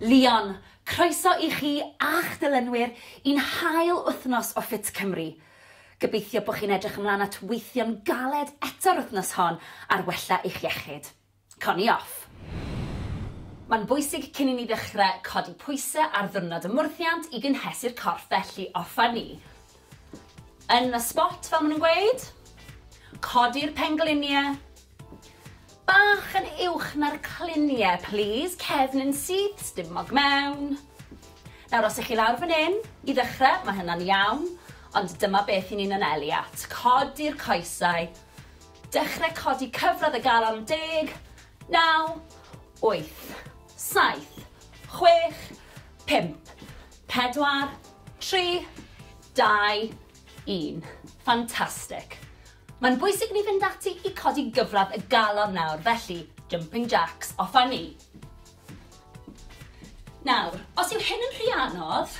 Llion, croeso i chi a'ch dilynwyr i'n hail wythnos o Fit Cymru. Gobeithio bod chi'n edrych ymlaen at weithio'n galed eto'r wythnos hon ar wella eich iechyd. Co ni off! Mae'n bwysig cyn i ni ddechrau codi pwysau ar ddiwrnod y mwrthiant i gynhesu'r corff felly offa ni Yn y spot fel ma' nhw'n gweud. Codi'r penglinie. Bach yn uwch na'r clinie plîs, cefn yn syth, stumog mewn. Nawr os 'ych chi lawr fan 'yn, i ddechre, ma' hynna'n iawn, ond dyma beth 'yn ni'n anelu at. Codi'r coesau. Dechre codi cyfradd y galon yn deg. Naw. Wyth. Saith. Chwech. Pump. Pedwar. Tri. Dau. Un. Fantastic. Mae'n bwysig ni fynd ati i codi gyfradd y galon nawr, felly jumping jacks, off a ni. Nawr, os yw hyn yn rhy anodd,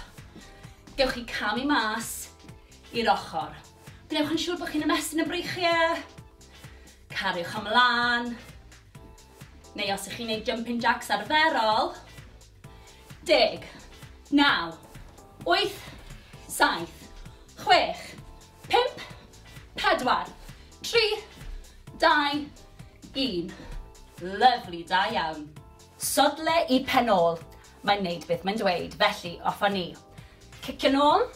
gewch chi camu mas i'r ochr. Gwnewch yn siŵr bod chi'n ymestyn y breichiau, cariwch ymlaen, Neu os ych chi'n neud jumping jacks arferol, deg, naw, wyth, saith, chwech, pump, pedwar, tri, dau, un. Lyfli, da iawn. Sodle i pen ôl, mae'n neud beth mae'n dweud, felly off â ni. Cicio nôl.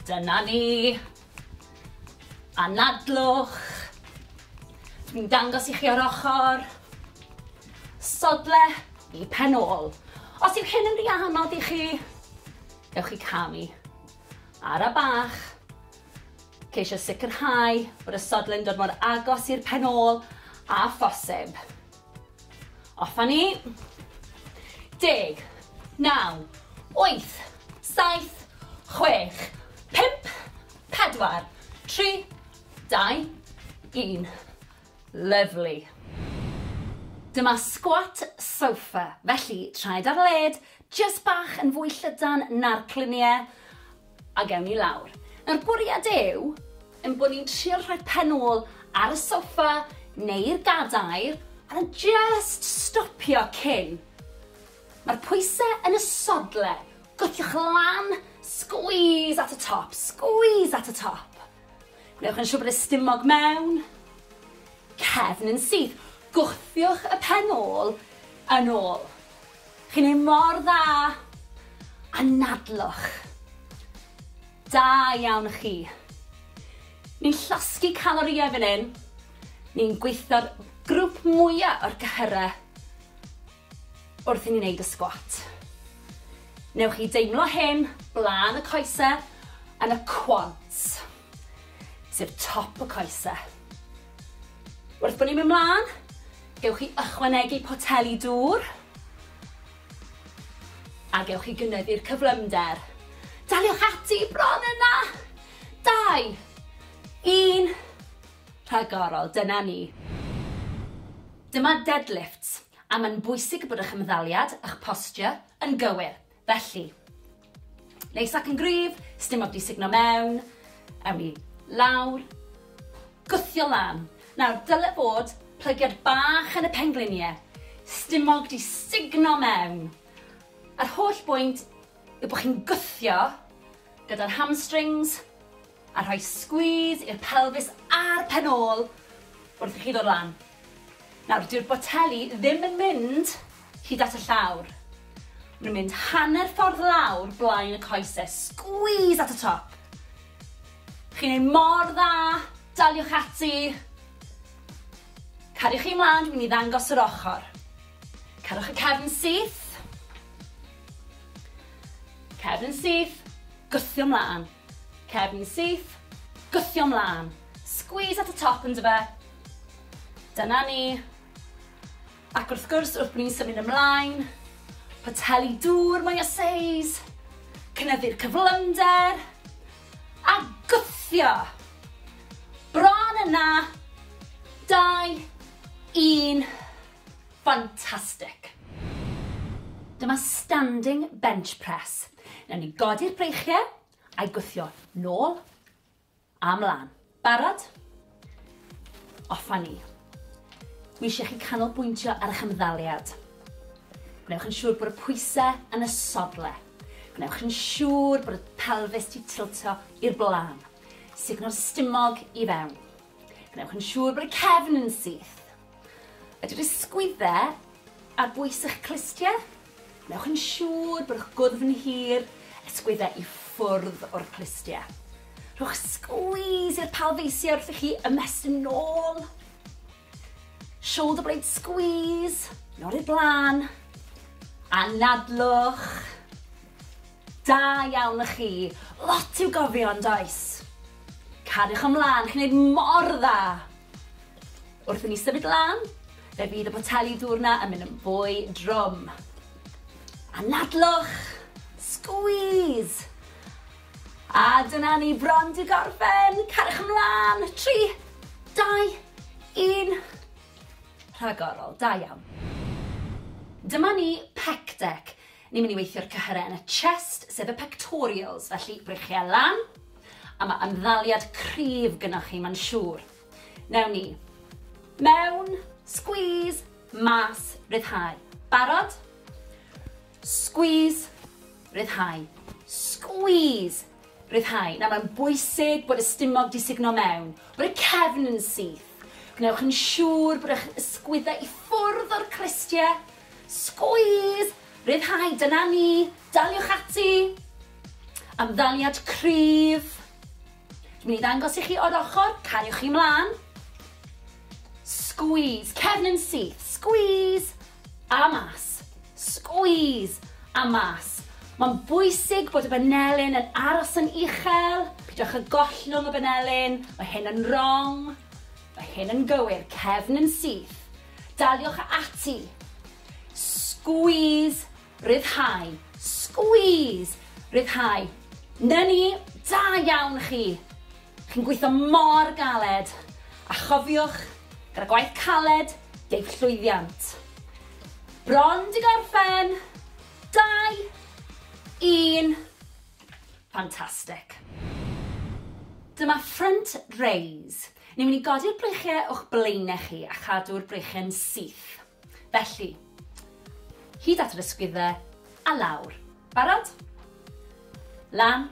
Dyna ni. Anadlwch. Dwi'n dangos i chi o'r ochr. Sodle i pen ôl. Os yw hyn yn rhy anodd i chi, dewch i camu. Ara bach. Ceisio sicrhau bod y sodle'n dod mor agos i'r pen ôl a phosib. Off a ni. Deg. Naw. Wyth. Saith. Chwech. Pump. Pedwar. Tri. Dau. Un. Lyfli. Dyma squat sofa, felly traed ar led, jyst bach yn fwy llydan na'r cluniau, Ac ewn ni lawr. Nawr, bwriad yw ein bod ni'n trio rhoi pen ôl ar y soffa neu'r gadair a jyst stopio cyn. Mae'r pwysau yn y sodle. Gwthiwch lan, squeeze at y top, squeeze at y top. Gwnewch yn siŵr bod y stumog mewn, cefn yn syth. Gwthiwch y pen ôl yn ôl. Chi'n neud mor dda! Anadlwch! Da iawn chi! Ni'n llosgi calorïau fan hyn, ni'n gweithio'r grwp mwya o'r cyhyrau wrth i ni neud y sgwat. Newch chi deimlo hyn blaen y coese yn y quads. sef top y coese. Wrth bod ni'n mynd mlaen, gewch chi ychwanegu poteli dŵr a gewch chi gynyddu'r cyflymder. Daliwch ati bron yna! Dau, un, rhagorol, dyna ni. Dyma deadlifts, a mae'n bwysig bod eich ymddaliad, eich posture, yn gywir. Felly, neis ac yn gryf, sdim ond i sugno mewn, ewn ni lawr, gwthio lan. Nawr, dyle bod plygiad bach yn y penglunie, stumog di sugno mewn. Yr holl bwynt yw bod chi'n gwthio gyda'r hamstrings, A rhoi squeeze i'r pelfis a'r pen ôl wrth i chi ddod lan. Nawr, dyw'r boteli ddim yn mynd hyd at y llawr. Maen nhw'n mynd hanner ffordd lawr blaen y coese. Squeeze at y top. Chi'n ei mor dda, daliwch ati. Cariwch chi mlaen, dwi'n mynd i ddangos yr ochr. Cerwch y cefn syth. Cefn syth, gwthio mlaen. Cefn syth, gwthio mlân. Squeeze at y top yndyfe? Dyna ni. Ac wrth gwrs, wrth bod ni'n symud ymlaen, poteli dŵr mwy o seis, cynyddu'r cyflymder, a gwthio. Bron yna. 2, 1. Fantastic. Dyma standing bench press. Newn ni godi'r breichie a'i gwthio nôl a mlan. Barod? Off a ni. Dwi eisiau chi canolbwyntio ar eich ymddaliad. Gwnewch yn siŵr bod y pwysau yn y sodle. Gwnewch yn siŵr bod y pelfis ti tiltio i'r blaen. Sugno'r stumog i fewn. Gwnewch yn siŵr bod y cefn yn syth. Ydy'r ysgwydde ar bwys eich clustie? Wnewch yn siŵr bod eich gwddf yn hir, ysgwydde i ffwrdd o'r clustie. Rhowch squeeze i'r palfeisiau wrth i chi ymestyn yn ôl. Shoulder blade squeeze, nod i'r blaen. Anadlwch. Da iawn y chi. Lot i'w gofio yn does? Cariwch ymlaen, chi'n gwneud mor dda. Wrth i ni symud lan, fe fydd y poteli dŵr 'na yn mynd yn fwy drwm. Anadlwch! Squeeze! A dyna ni bron 'di gorffen! Cariwch ymlan! Tri, dau, un. Rhagorol, da iawn. Dyma ni pec deck. Ni'n mynd i weithio'r cyhyrau yn y chest, sef y pectorials, felly breichiau lan, a mae ymddaliad cryf gynnwch chi, mae'n siŵr. Newn ni. Mewn. Squeeze. Mas. Rhyddhau. Barod? Squeeze. Rhyddhau. Squeeze. Rhyddhau. Nawr mae'n bwysig bod y stumog di sugno mewn, bod y cefn yn syth. Gwnewch yn siŵr bod eich ysgwyddau i ffwrdd o'r cristiau. Squeeze! Rhyddhau, dyna ni. Daliwch ati. Ymddaliad cryf. Dwi'n mynd i ddangos i chi o'r ochr, cariwch chi mlaen. Squeeze, cefn yn syth, squeeze, a mas. Squeeze, a mas. Mae'n bwysig bod y banelyn yn aros yn uchel, pidwch y gollwng y banelyn, mae hyn yn wrong, mae hyn yn gywir, cefn yn syth. Daliwch ati. Squeeze Rhyddhau. Squeeze! Rhyddhau. 'Na ni! Da iawn chi! Chi'n gweithio mor galed! A chofiwch, gyda gwaith caled, deiff llwyddiant. Bron 'di gorffen! Dau! Un! Fantastic. Dyma front raise. Ni'n mynd i godi'r breichiau o'ch blaenau chi a chadw'r breichiau'n syth. Felly, hyd at yr ysgwyddau a lawr. Barod? Lan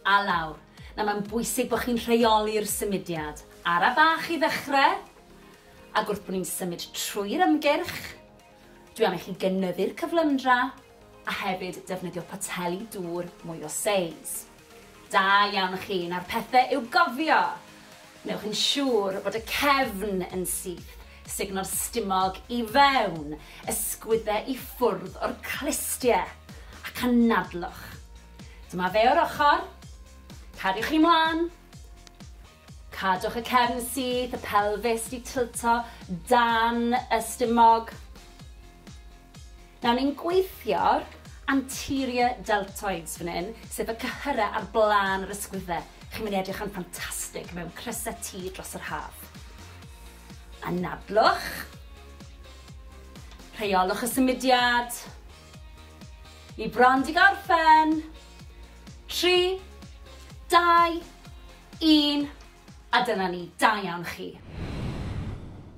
a lawr. Nawr mae'n bwysig bod chi'n rheoli'r symudiad. Ara bach i ddechrau, ac wrth bod ni'n symud trwy'r ymgyrch, dwi am i chi gynyddu'r cyflymdra, a hefyd defnyddio poteli dŵr mwy o seis. Da iawn chi, nawr pethe i'w gofio! Wnewch yn siŵr bod y cefn yn syth, sugno'r stumog i fewn, ysgwydde i ffwrdd o'r clustie, ac anadlwch. Dyma fe o'r ochr, cadwch chi mlan, Cadwch y cefn syth, y pelfis 'di tilto dan y stumog. Nawr ni'n gweithio'r anterior deltoids fan hyn, sef y cyhyrau ar blaen yr ysgwydde. Chi'n mynd i edrych yn ffantastig mewn crysau T dros yr haf. Anadlwch. Rheolwch y symudiad. Ni bron 'di gorffen. Tri, dau, Un, a dyna ni, da iawn chi.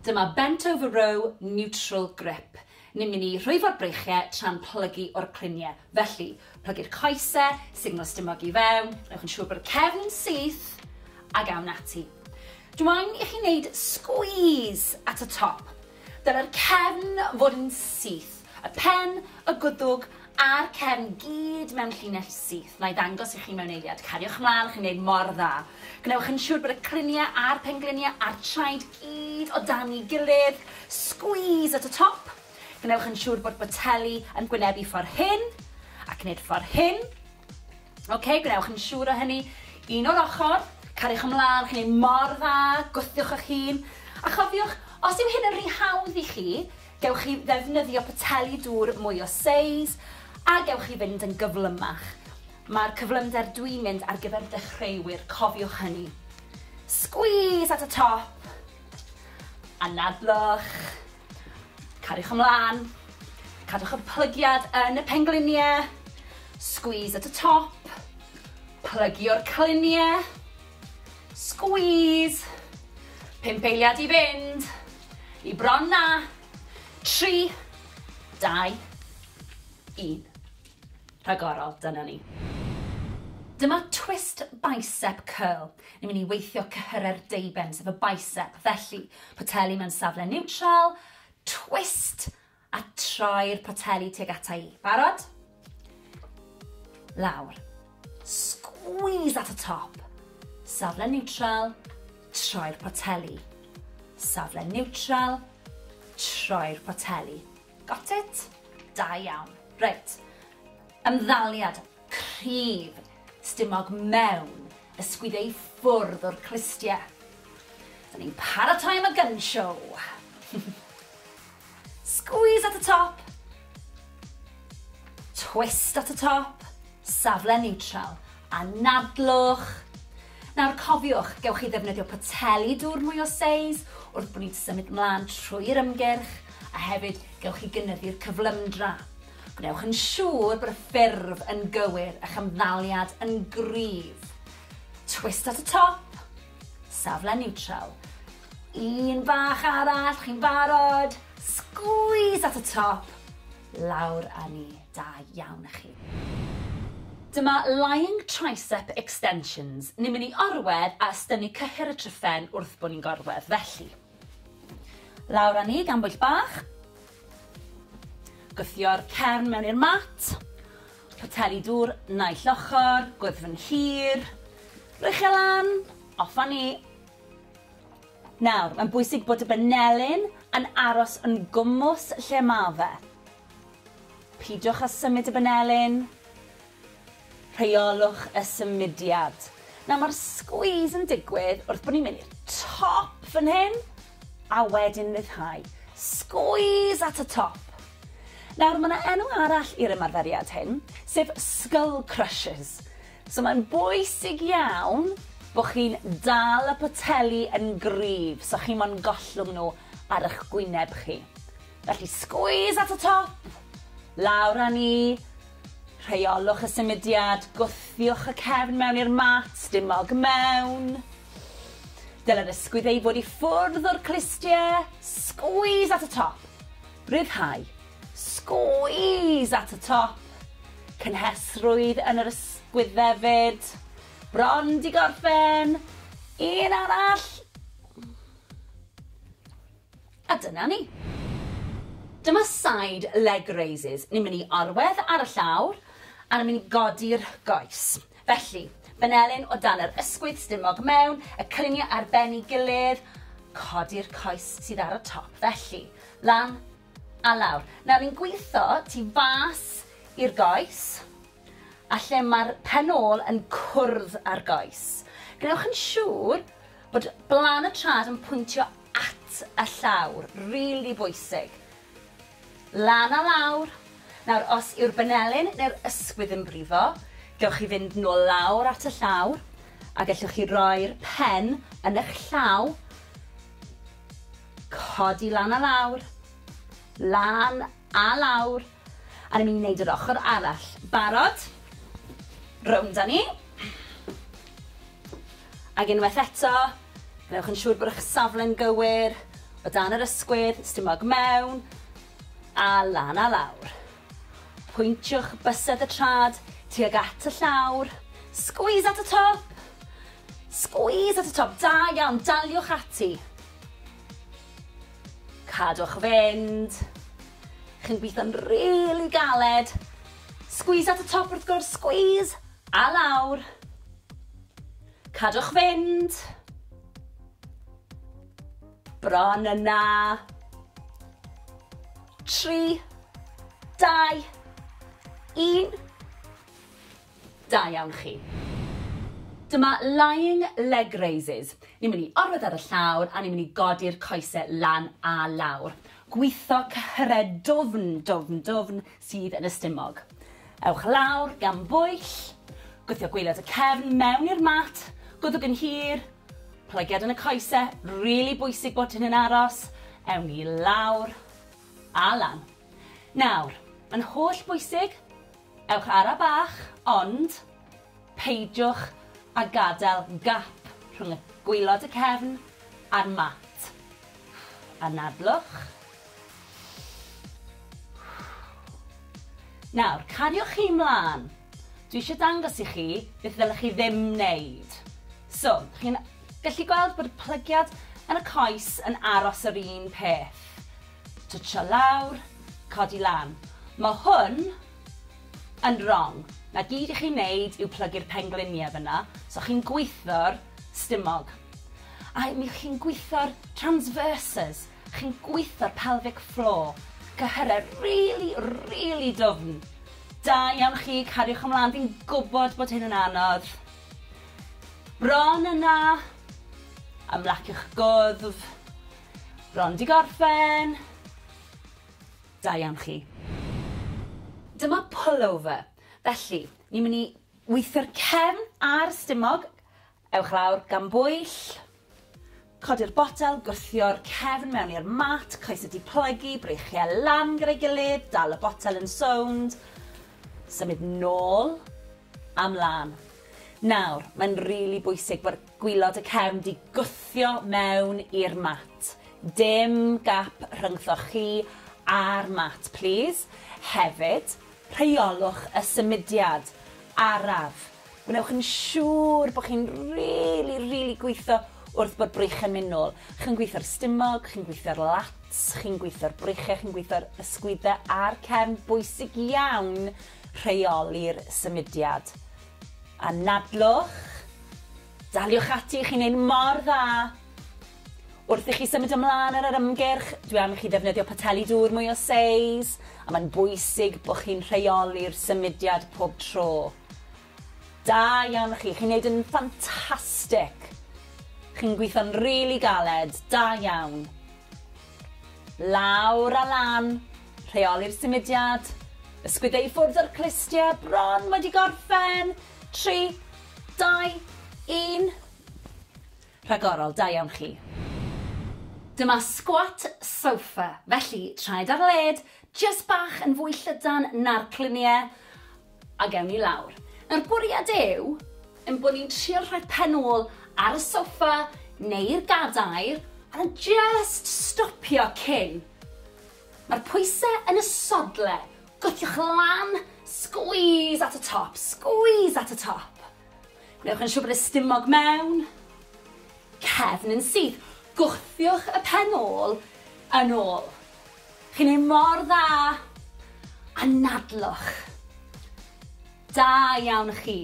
Dyma bent over row neutral grip. Ni'n mynd i rhwyfo'r breichiau tra'n plygu o'r cluniau. Felly, plygu'r coesau, signal stumog i fewn, newch yn siŵr bod y cefn yn syth, ac awn ati. Dw i'n i chi wneud squeeze at y top. Dylai'r cefn fod yn syth, y pen, y gwddwg a'r cefn gyd mewn llinell syth. Na'i ddangos i chi mewn eiliad. Cariwch mlaen, chi'n gwneud mor dda. Gwnewch yn siŵr bod y cliniau a'r pengliniau a'r traed gyd o dan ei gilydd. Squeeze at y top. Gwnewch yn siŵr bod boteli yn gwynebu ffordd hyn, ac wneud ffordd hyn. Ok, gwnewch yn siŵr o hynny. Un o'r ochr, cariwch ymlaen, chi'n ei mor dda, gwthiwch eich hun. A chofiwch, os yw hyn yn rhy hawdd i chi, gewch chi ddefnyddio poteli dŵr mwy o seis, a gewch chi fynd yn gyflymach. Mae'r cyflymder dwi'n mynd ar gyfer dechreuwyr, cofiwch hynny. Squeeze at y top, anadlwch. Cariwch ymlaen, cadwch y plygiad yn y pengliniau, squeeze at y top, plygio'r cliniau, squeeze, pump eiliad i fynd, i bron na, tri, dau, un. rhagorol, dyna ni. Dyma twist bicep curl. Ni'n mynd i weithio cyhyrau'r deuben, sef y bicep. Felly, poteli mewn safle niwtral, twist, a troi'r poteli tuag ata i. Barod? Lawr. Squeeze at y top. Safle niwtral, troi'r poteli. Safle niwtral, troi'r poteli. Got it? Da iawn. Reit. Ymddaliad cryf stumog mewn ysgwyd ei ffwrdd o'r clustie. Dyn ni'n paratoi am y gun show. Squeeze at y top. Twist at y top. Safle neutral. Anadlwch. Nawr cofiwch, gewch chi ddefnyddio poteli dŵr mwy o seis wrth bod ni'n symud mlaen trwy'r ymgyrch, a hefyd gewch chi gynyddu'r cyflymdra. Gwnewch yn siŵr bod y ffurf yn gywir, a'ch ymddaliad yn gryf. Twist at y top, safle niwtral. Un bach arall, chi'n barod? Sgwîs at y top, lawr â ni. Da iawn i chi. Dyma Lying Tricep Extensions. Ni'n mynd i orwedd a ystynnu cyhyr y tryphen wrth bo ni'n gorwedd, felly. Lawr â ni gan bwyll bach. Gwthio'r cefn mewn i'r mat. Poteli dŵr naill ochr, gwddfn hir. Rwy'ch e lan, off â ni. Nawr, mae'n bwysig bod y banelyn yn aros yn gwmws lle ma fe. Peidiwch â symud y banelin. Rheolwch y symudiad. Nawr mae'r squeeze yn digwydd wrth bod ni'n mynd i'r top fan hyn a wedyn ryddhau. Squeeze at y top. Nawr mae yna enw arall i'r ymarferiad hyn, sef skull crushes. So mae'n bwysig iawn bod chi'n dal y poteli yn gryf so chi mo'n gollwng nhw ar eich gwyneb chi. Felly squeeze at y top, lawr â ni, rheolwch y symudiad, gwthiwch y cefn mewn i'r mat, dim mog mewn. Dylai'r ysgwydd ei fod i ffwrdd o'r clustiau, squeeze at y top, rhyddhau, squeeze at y top, cynhesrwydd yn yr ysgwydd hefyd, bron di gorffen, un arall, A dyna ni. Dyma side leg raises. Ni'n mynd i orwedd ar y llawr a ni'n mynd i godi'r goes. Felly, benelin o dan yr ysgwydd stumog mewn, y cyniau ar ben ei gilydd, codi'r coes sydd ar y top. Felly, lan a lawr. Nawr ni'n gweithio tu fas i'r goes a lle mae'r pen ôl yn cwrdd â'r goes. Gwnewch yn siŵr bod blan y trad yn pwyntio At y llawr, rili bwysig. Lan a lawr. Nawr, os yw'r banelyn neu'r ysgwydd yn brifo, gewch chi fynd nôl lawr at y llawr, a gellwch chi roi'r pen yn eich llaw, codi lan a lawr, lan a lawr, a ni'n mynd i wneud yr ochr arall. Barod? Rownd â ni. Ac unwaith eto, gwnewch yn siŵr bod eich safle'n gywir, o dan yr ysgwydd, stumog mewn, a lan a lawr. Pwyntiwch bysedd y trad tuag at y llawr, squeeze at y top! Squeeze at y top, da iawn, daliwch ati. Cadwch fynd. Chi'n gweithio'n rili galed. Squeeze at y top wrth gwrs, squeeze! A lawr. Cadwch fynd. Bron yna. Tri. Dau. Un. Da iawn chi. Dyma lying leg raises. Ni'n mynd i orwedd ar y llawr a ni'n mynd i godi'r coesau lan a lawr. Gwitho cyhyred dwfn, dwfn, dwfn, sydd yn y stumog. Ewch lawr gan bwyll, gwthio gwaelod y cefn mewn i'r mat, gwddwg yn hir, plygiad yn y coese, rili bwysig bod hyn yn aros, ewn ni lawr a lan. Nawr, yn holl bwysig, ewch ara bach, ond peidiwch a gadael gap rhwng y gwaelod y cefn a'r mat. Anadlwch, Nawr, cariwch chi 'mlan. Dwi eisiau dangos i chi beth ddylech chi ddim wneud. So, chi'n gallu gweld bod y plygiad yn y coes yn aros yr un peth. Twtsio lawr, codi lan. Mae hwn yn wrong. Na gyd i chi wneud yw plygu'r pengliniau fyna, so chi'n gwitho'r stumog. A mi chi'n gwitho'r transverses. Chi'n gwitho'r pelvic floor. Cyhyrau rili, rili dwfn. Da iawn chi, cariwch ymlaen, fi'n gwybod bod hyn yn anodd. Bron yna. Ymlaciwch gwddf. Bron di gorffen. Da iawn chi. Dyma pullover. Felly, ni'n mynd i weithio'r cefn a'r stumog, Ewch lawr gan bwyll. Codi'r botel, gwthio'r cefn mewn i'r mat, coesau diplygu, breichiau lan gyda'i gilydd, dal y botel yn sownd, symud nôl a mlan. Nawr, mae'n rili bwysig bod gwilod y cefn 'di gwthio mewn i'r mat. Dim gap rhyngthoch chi a'r mat, plîs. Hefyd, rheolwch y symudiad araf. Gwnewch yn siŵr bod chi'n rili, rili gweithio wrth bo'r breichiau'n mynd nôl. Chi'n gweithio'r stumog, chi'n gweithio'r lats, chi'n gweithio'r breichiau, chi'n gweithio'r ysgwyddau a'r cefn. Bwysig iawn rheoli'r symudiad. Anadlwch, daliwch ati, chi'n neud mor dda! Wrth i chi symud ymlaen ar yr ymgyrch, dwi am i chi ddefnyddio poteli dŵr mwy o seis, a mae'n bwysig bod chi'n rheoli'r symudiad pob tro. Da iawn chi, chi'n neud yn ffantastic! Chi'n gweithio'n rili really galed, da iawn. Lawr a lan, rheoli'r symudiad, ysgwydde i ffwrdd o'r clustie, bron wedi gorffen, 3, 2, 1. Rhagorol, da iawn chi. Dyma squat sofa, felly traed ar led, jyst bach yn fwy llydan na'r clunie, a gewn ni lawr. Nawr bwriad yw ein bod ni'n trio rhoi pen ôl ar y sofa neu'r gadair, a jyst stopio cyn. Mae'r pwysau yn y sodle, gwthiwch lan, squeeze at y top, squeeze at y top. Gwnewch yn siŵr bod y stumog mewn cefn yn syth. Gwthiwch y pen ôl yn ôl. Chi'n ei mor dda! Anadlwch. Da iawn chi.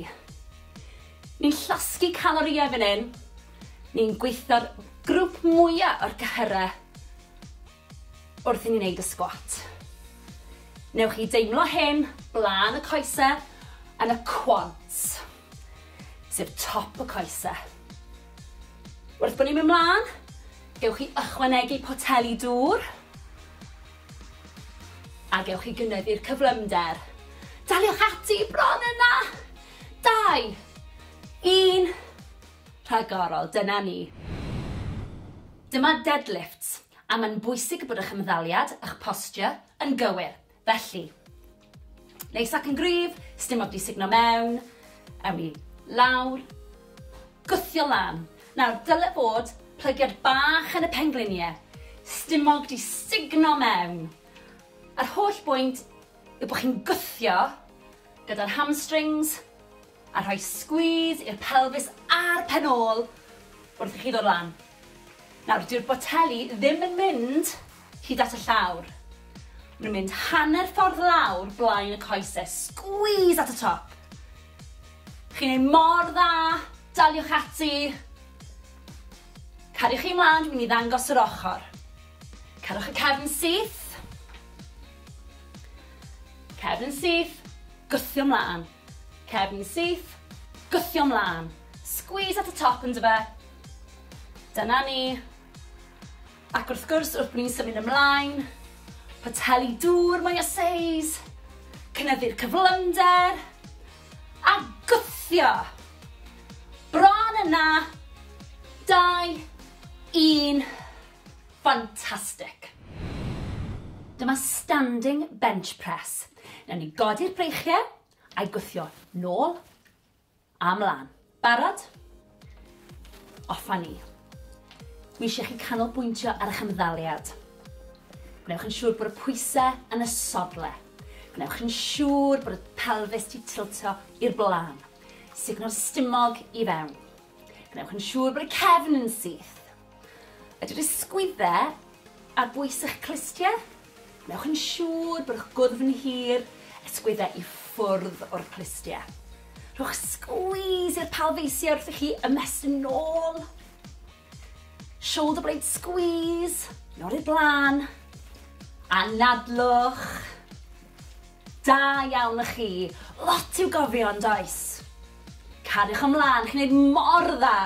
Ni'n llosgi calorïau fan hyn. Ni'n gweithio'r grwp mwya o'r gyhyrau. wrth i ni wneud y sgwat. Newch chi deimlo hyn blaen y coese yn y quads, sef top y coese. Wrth bod ni'n mynd mlaen, gewch chi ychwanegu poteli dŵr a gewch chi gynyddu'r cyflymder. Daliwch ati bron yna! Dau, un, rhagorol, dyna ni. Dyma deadlifts. A mae'n bwysig bod eich ymddaliad, eich posture, yn gywir. Felly, neis ac yn gryf, sdim ots i sugno mewn, awn ni lawr, gwthio lan. Nawr, dyle fod plygiad bach yn y pengliniau, sdim ots i sugno mewn. Yr holl bwynt yw bod chi'n gwthio gyda'r hamstrings, A rhoi squeeze i'r pelfis a'r pen ôl wrth i chi ddod lan. Nawr, dyw'r boteli ddim yn mynd hyd at y llawr. Maen nhw'n mynd hanner ffordd lawr blaen y coese. Squeeze at y top. Chi'n ei mor dda, daliwch ati. Cariwch chi mlaen, dwi'n mynd i ddangos yr ochr. Cerwch y cefn syth. Cefn syth, gwthio mlaen. Cefn syth, gwthio mlân. Squeeze at y top yndyfe? Dyna ni. Ac wrth gwrs, wrth bod ni'n symud ymlaen, poteli dŵr mwy o seis, cynyddu'r cyflymder, a gwthio! Bron yna! 2, 1, fantastic! Dyma standing bench press. Newn ni godi'r breichie a'i gwthio nôl a mlan. Barod? Off a ni. Dwi eisiau chi canolbwyntio ar eich ymddaliad. Gwnewch yn siŵr bod y pwysau yn y sodle. Gwnewch yn siŵr bod y pelfis ti tiltio i'r blaen. Sugno'r stumog i fewn. Gwnewch yn siŵr bod y cefn yn syth. Ydy'r ysgwyddau ar bwys eich clustiau? Wnewch yn siŵr bod eich gwddf yn hir, ysgwyddau i ffwrdd o'r clustiau. Rhowch squeeze i'r palfeisiau wrth i chi ymestyn yn ôl. Shoulder blade squeeze, yn ôl i'r blaen. Anadlwch. Da iawn y chi. Lot i'w gofio yn does? Cariwch ymlaen, chi'n neud mor dda.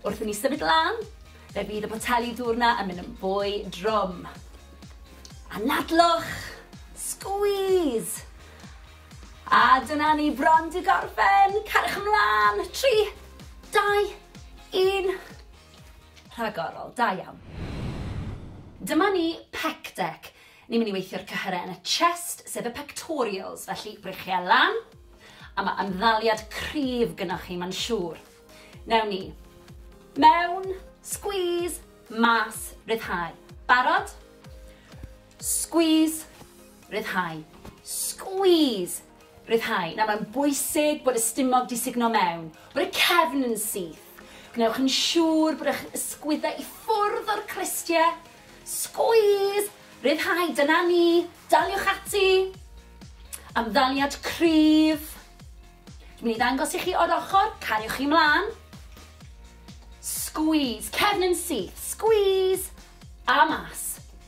Wrth i ni symud lan, fe fydd y poteli dŵr 'na yn mynd yn fwy drwm. Anadlwch! Squeeze! A dyna ni bron 'di gorffen! Cariwch ymlan! Tri, dau, un. Rhagorol, da iawn. Dyma ni pec deck. Ni'n mynd i weithio'r cyhyrau yn y chest, sef y pectorials, felly breichiau lan, a mae ymddaliad cryf gynnwch chi, mae'n siŵr. Newn ni. Mewn, squeeze, mas, ryddhau. Barod? Squeeze, ryddhau. Squeeze, ryddhau. Nawr mae'n bwysig bod y stumog di sugno mewn, bod y cefn yn syth. Gwnewch yn siŵr bod eich ysgwyddau i ffwrdd o'r cristiau. Squeeze, ryddhau, dyna ni, daliwch ati. Amddaliad cryf. Dwi'n mynd i ddangos i chi o'r ochr, cariwch chi mlaen. Squeeze, cefn yn syth, squeeze, a mas,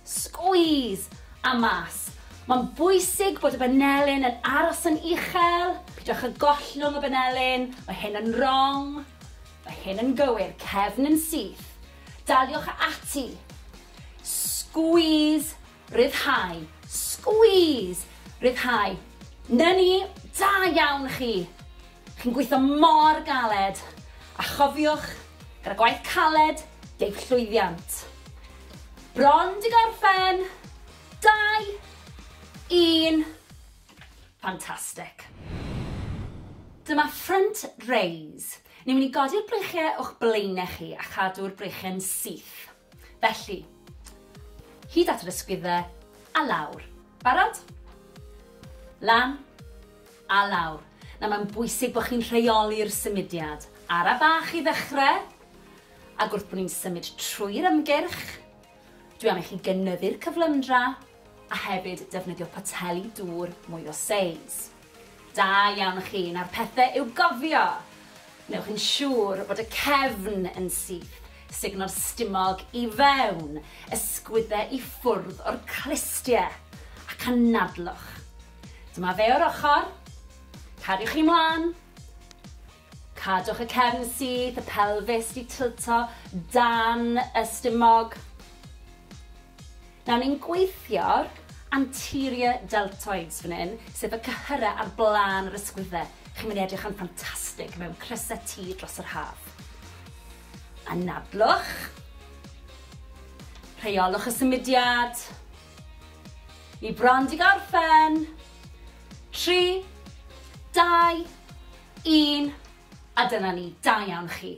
squeeze, a mas. Mae'n bwysig bod y banelyn yn aros yn uchel, pidwch y gollwng y banelyn, mae hyn yn wrong, mae hyn yn gywir, cefn yn syth. Daliwch ati, squeeze, Rhyddhau. Squeeze! Rhyddhau. 'Na ni! Da iawn chi! Chi'n gweithio mor galed! A chofiwch, gyda gwaith caled, deg llwyddiant. Bron 'di gorffen! Dau! Un! Fantastic! Dyma front raise. Ni'n mynd i godi'r breichiau o'ch blaenau chi a chadw'r breichiau'n syth. Felly, hyd at yr ysgwyddau, a lawr. Barod? Lan, a lawr. Nawr mae'n bwysig bod chi'n rheoli'r symudiad. Ara bach i ddechrau, ac wrth bod ni'n symud trwy'r ymgyrch, dwi am i chi gynyddu'r cyflymdra, a hefyd defnyddio poteli dŵr mwy o seis. Da iawn chi, nawr pethe i'w gofio! Wnewch yn siŵr bod y cefn yn syth, sugno'r stumog i fewn, ysgwydde i ffwrdd o'r clustie, ac anadlwch. Dyma fe o'r ochr, cariwch chi mlan, Cadwch y cefn syth, y pelfis 'di tilto dan y stumog. Nawr ni'n gweithio'r anterior deltoids fan hyn, sef y cyhyrau ar blaen yr ysgwydde. Chi'n mynd i edrych yn ffantastig mewn crysau T dros yr haf. Anadlwch. Rheolwch y symudiad. Ni bron 'di gorffen. Tri, dau, Un, a dyna ni, da iawn chi.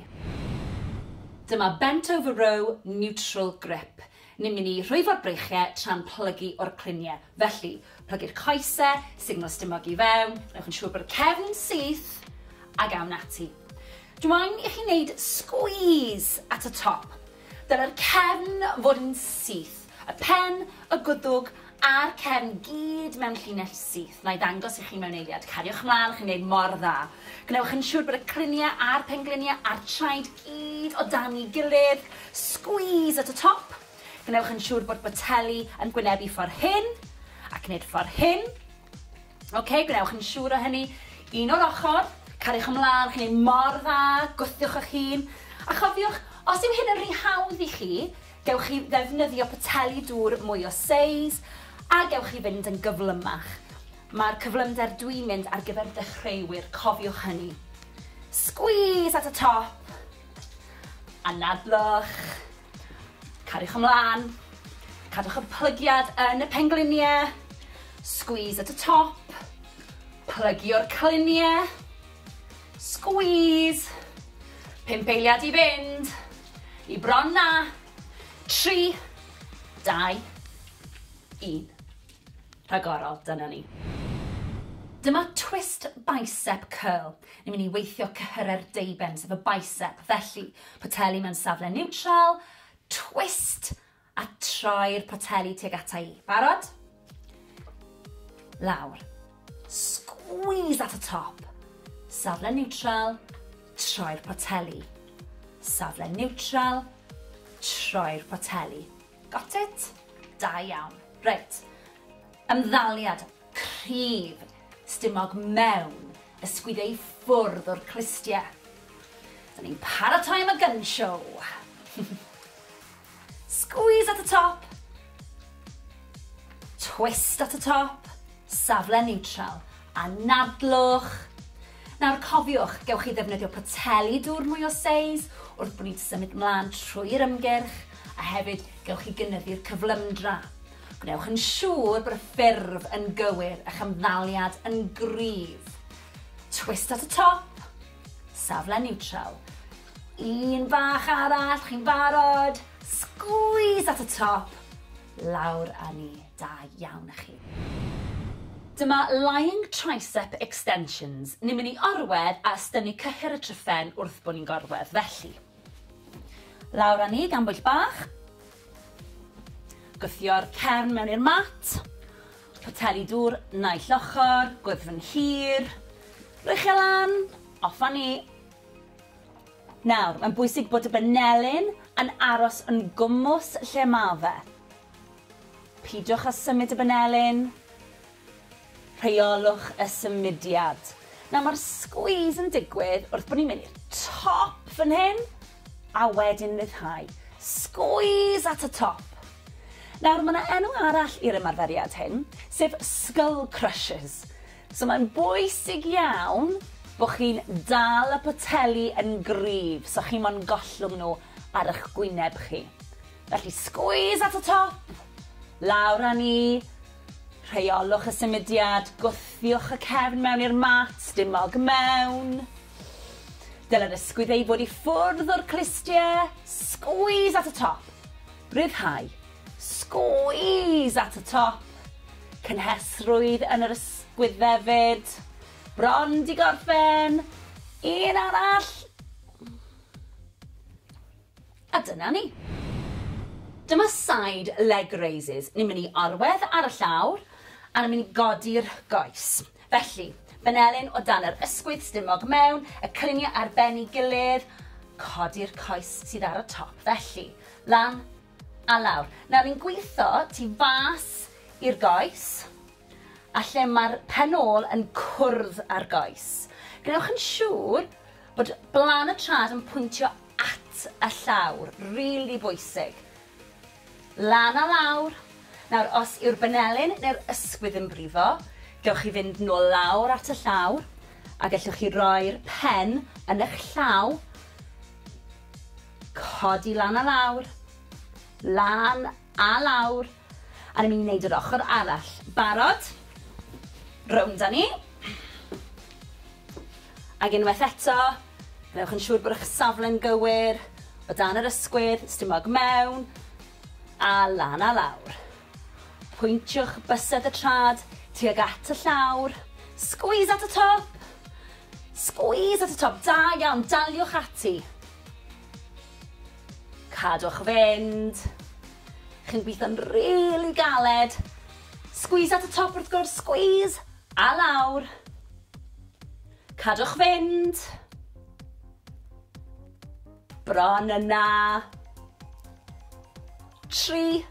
Dyma Bent Over Row Neutral Grip. Ni'n mynd i rhwyfo'r breichiau tra'n plygu o'r cluniau. Felly, plygu'r coesau, signo stumog i fewn, gwnewch yn siŵr bod y cefn yn syth, ac awn ati. Dw i'n i chi wneud squeeze at y top. Dylai'r cefn fod yn syth, y pen, y gwddwg a'r cefn gyd mewn llinell syth. Na'i ddangos i chi mewn eiliad. Cariwch mlaen, chi'n gwneud mor dda. Gwnewch yn siŵr bod y cryniau a'r pengliniau a'r traed gyd o dan'i gilydd. Squeeze at y top. Gwnewch yn siŵr bod boteli yn gwynebu ffordd hyn, ac nid ffordd hyn. Ok, gwnewch yn siŵr o hynny. Un o'r ochr, cariwch ymlaen, chi'n ei mor dda, gwthiwch eich hun. A chofiwch, os yw hyn yn rhy hawdd i chi, gewch chi ddefnyddio poteli dŵr mwy o seis, a gewch chi fynd yn gyflymach. Mae'r cyflymder dwi'n mynd ar gyfer dechreuwyr, cofiwch hynny. Squeeze at y top, anadlwch. Cariwch ymlaen. Cadwch y plygiad yn y pengliniau. Squeeze at y top. Plygio'r cliniau. Squeeze. Pump eiliad i fynd. I bron na. Tri. Dau. Un. rhagorol, dyna ni. Dyma twist bicep curl. Ni'n mynd i weithio cyhyrau'r deuben, sef y bicep. Felly, poteli mewn safle niwtral, twist, a troi'r poteli tuag ata i. Barod? Lawr. Squeeze at y top. Safle niwtral, troi'r poteli. Safle niwtral, troi'r poteli. Got it? Da iawn. Reit. Ymddaliad cryf stumog mewn ysgwyd ei ffwrdd o'r clustie. Dyn ni'n paratoi am y gun show. Squeeze at y top. Twist at y top. Safle neutral. Anadlwch. Nawr cofiwch, gewch chi ddefnyddio poteli dŵr mwy o seis wrth bod ni'n symud mlaen trwy'r ymgyrch, a hefyd gewch chi gynyddu'r cyflymdra. Gwnewch yn siŵr bod y ffurf yn gywir, a'ch ymddaliad yn gryf. Twist at y top, safle niwtral. Un bach arall, chi'n barod? Sgwîs at y top, lawr â ni. Da iawn a chi. Dyma Lying Tricep Extensions, ni'n mynd i orwedd a ystynnu cyhyr y tryphen wrth bo ni'n gorwedd, felly. Lawr a ni gan bwyll bach. Gwthio'r cefn mewn i'r mat. Poteli dŵr naill ochr, gwddfn hir. Rwy'ch e lan, off a ni. Nawr, mae'n bwysig bod y banelyn yn aros yn gwmws lle ma fe. Peidiwch â symud y banelin. Rheolwch y symudiad. Nawr mae'r squeeze yn digwydd wrth bod ni'n mynd i'r top fan hyn a wedyn ryddhau. Squeeze at y top. Nawr mae yna enw arall i'r ymarferiad hyn, sef skull crushes. So mae'n bwysig iawn bod chi'n dal y poteli yn gryf so chi mo'n gollwng nhw ar eich gwyneb chi. Felly squeeze at y top, lawr â ni, rheolwch y symudiad, gwthiwch y cefn mewn i'r mat, dim mog mewn. Dylai'r ysgwydd ei fod i ffwrdd o'r clustiau, squeeze at y top, rhyddhau, squeeze at y top, cynhesrwydd yn yr ysgwydd hefyd, bron di gorffen, un arall, A dyna ni. Dyma side leg raises. Ni'n mynd i orwedd ar y llawr a ni'n mynd i godi'r goes. Felly, benelin o dan yr ysgwydd stumog mewn, y cylunie ar ben i gilydd, codi'r coes sydd ar y top. Felly, lan a lawr. Nawr ni'n gwitho tu fas i'r goes a lle mae'r pen ôl yn cwrdd â'r goes. Gwnewch yn siŵr bod blan y trad yn pwyntio at y llawr, rili bwysig. Lan a lawr. Nawr, os yw'r banelyn neu'r ysgwydd yn brifo, gewch chi fynd nôl lawr at y llawr, a gellwch chi roi'r pen yn eich llaw, codi lan a lawr, lan a lawr, a ni'n mynd i wneud yr ochr arall. Barod? Rownd â ni. Ac unwaith eto, gwnewch yn siŵr bod eich safle'n gywir, o dan yr ysgwydd, stumog mewn, a lan a lawr. Pwyntiwch bysedd y trad tuag at y llawr, squeeze at y top! Squeeze at y top, da iawn, daliwch ati. Cadwch fynd. Chi'n gweithio'n rili galed. Squeeze at y top wrth gwrs, squeeze! A lawr. Cadwch fynd. Bron yna. Tri.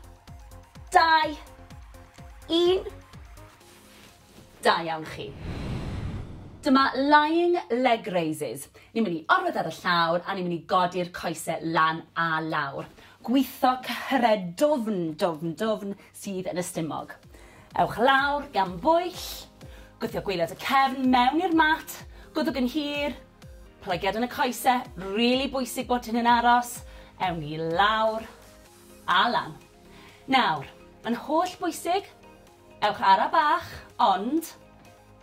Dau. Un. Da iawn chi. Dyma lying leg raises. Ni'n mynd i orwedd ar y llawr a ni'n mynd i godi'r coesau lan a lawr. Gwitho cyhyred dwfn, dwfn, dwfn, sydd yn y stumog. Ewch lawr gan bwyll, gwthio gwaelod y cefn mewn i'r mat, gwddwg yn hir, plygiad yn y coese, rili bwysig bod hyn yn aros, ewn ni lawr a lan. Nawr, yn holl bwysig, ewch ara bach, ond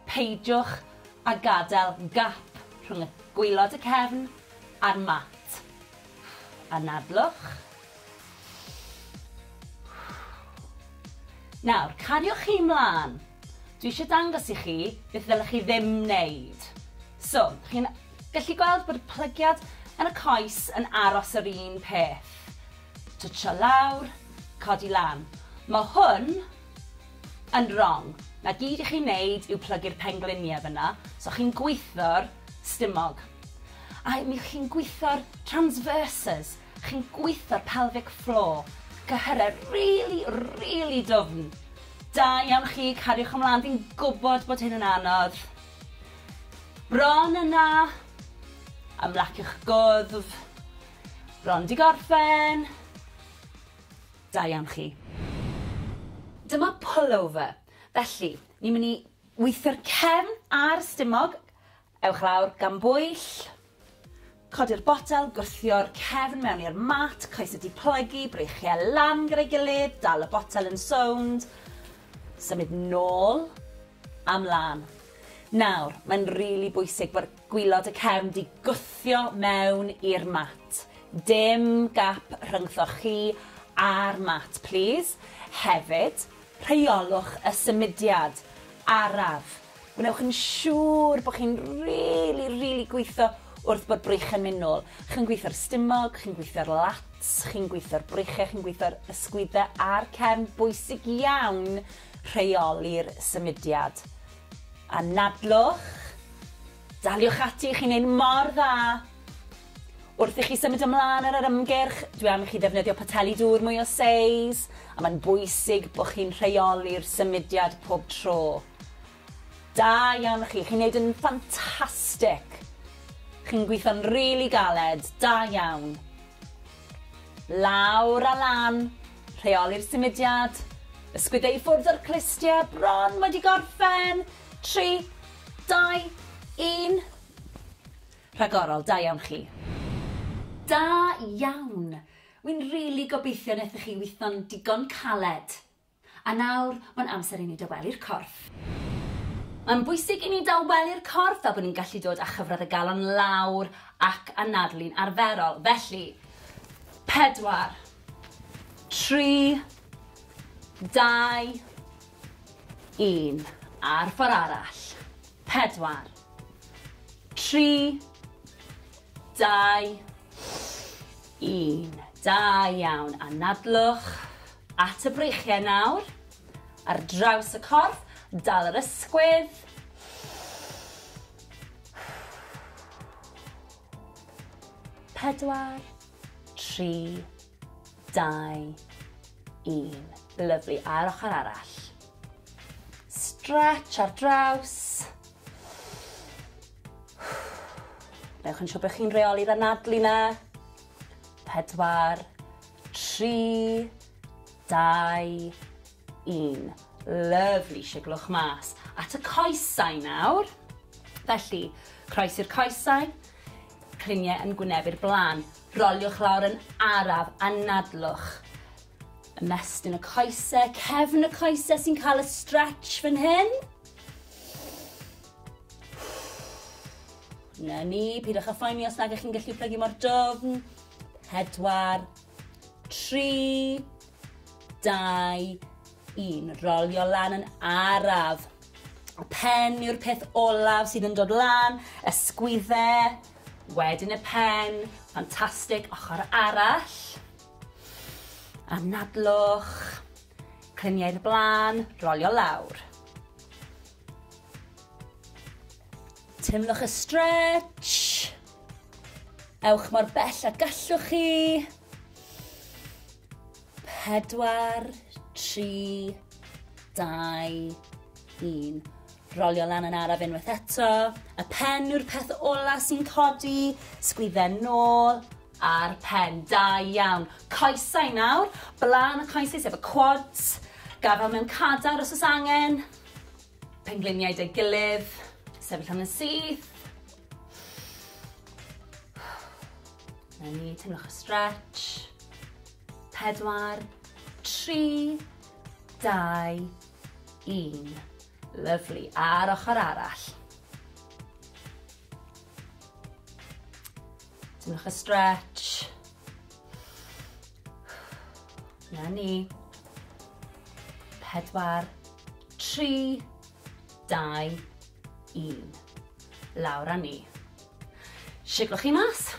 peidiwch a gadael gap rhwng y gwaelod y cefn a'r mat. Anadlwch, Nawr, cariwch chi 'mlan. Dwi eisiau dangos i chi beth ddylech chi ddim wneud. So, chi'n gallu gweld bod y plygiad yn y coes yn aros yr un peth. Twtsio lawr, codi lan. Mae hwn yn wrong. Na gyd i chi wneud yw plygu'r pengliniau fyna, so chi'n gwitho'r stumog. A mi chi'n gwitho'r transverses, Chi'n gweitho'r pelvic floor. Cyhyrau rili, rili dwfn. Da iawn chi, cariwch ymlaen, fi'n gwybod bod hyn yn anodd. Bron yna. Ymlaciwch gwddf. Bron di gorffen. Da iawn chi. Dyma pullover. Felly, ni'n mynd i weithio'r cefn a'r stumog, Ewch lawr gan bwyll. Codi'r botel, gwthio'r cefn mewn i'r mat, coesau diplygu, breichiau lan gyda'i gilydd, dal y botel yn sownd, symud nôl a mlan. Nawr, mae'n rili bwysig bod gwilod y cefn 'di gwthio mewn i'r mat. Dim gap rhyngthoch chi a'r mat, plîs. Hefyd, rheolwch y symudiad araf Gwnewch yn siŵr bod chi'n rili, rili gweithio wrth bod breichiau'n mynd nôl. Chi'n gweithio'r stumog, chi'n gweithio'r lats, chi'n gweithio'r breichiau, chi'n gweithio'r ysgwyddau a'r cefn. Bwysig iawn rheoli'r symudiad. Anadlwch, daliwch ati, chi'n neud mor dda! Wrth i chi symud ymlaen ar yr ymgyrch, dwi am i chi ddefnyddio poteli dŵr mwy o seis, a mae'n bwysig bod chi'n rheoli'r symudiad pob tro. Da iawn chi, chi'n neud yn ffantastic! Chi'n gweithio'n rili galed, da iawn! Lawr a lan, rheoli'r symudiad, ysgwydde i ffwrdd o'r clustiau, bron wedi gorffen, tri, dau, un. Rhagorol, da iawn chi. Da iawn! Wi'n rili gobeithio nethoch chi witho'n digon caled. A nawr, mae'n amser i ni dawelu'r corff. Mae'n bwysig i ni dawelu'r corff fel bod ni'n gallu dod â chyfradd y galon lawr ac anadlu'n arferol. Felly, pedwar, tri, dau, un, a'r ffordd arall. Pedwar. Tri. Dau. Un. Da iawn. Anadlwch at y breichiau nawr. Ar draws y corff, dal yr ysgwydd. Pedwar. Tri. Dau. Un. Lyfli. A'r ochr arall. Stretch ar draws. Newch yn siŵr bod chi'n reoli'r anadlu na. Pedwar. Tri. Dau. Un. Lyfli, siglwch mas at y coesau nawr. Felly, croes i'r coesau, cliniau yn gwynebu'r blaen. Roliwch lawr yn araf, anadlwch. Ymestyn y coesau, cefn y coesau sy'n cael y stretch fan hyn. Na ni, pidwch a phoeni os nag ych chi'n gallu plygu mor dwfn. Pedwar, tri, Dau, un. Rolio lan yn araf. Y pen yw'r peth olaf sydd yn dod lan, ysgwydde, wedyn y pen, ffantastig, ochr arall. Anadlwch, cliniau'r blaen, rolio lawr. Teimlwch y stretch. Ewch mor bell a gallwch chi. Pedwar, tri, dau, un. Rolio lan yn araf unwaith eto. Y pen yw'r peth ola sy'n codi. Sgwydden nôl a'r pen. Da iawn. Coesau nawr. Blaen y coesau sef y quads. Gafel mewn cadar os oes angen. Pengliniau 'da'i gilydd, sefyll am yn syth. Na ni, teimlwch y stretch. Pedwar, tri, dau, un. Lyflu. A'r ochr arall. Teimlwch y stretch. Na ni. Pedwar, tri, dau, un. Lawr a ni. Siglwch chi mas.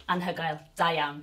Anhygoel. Da iawn.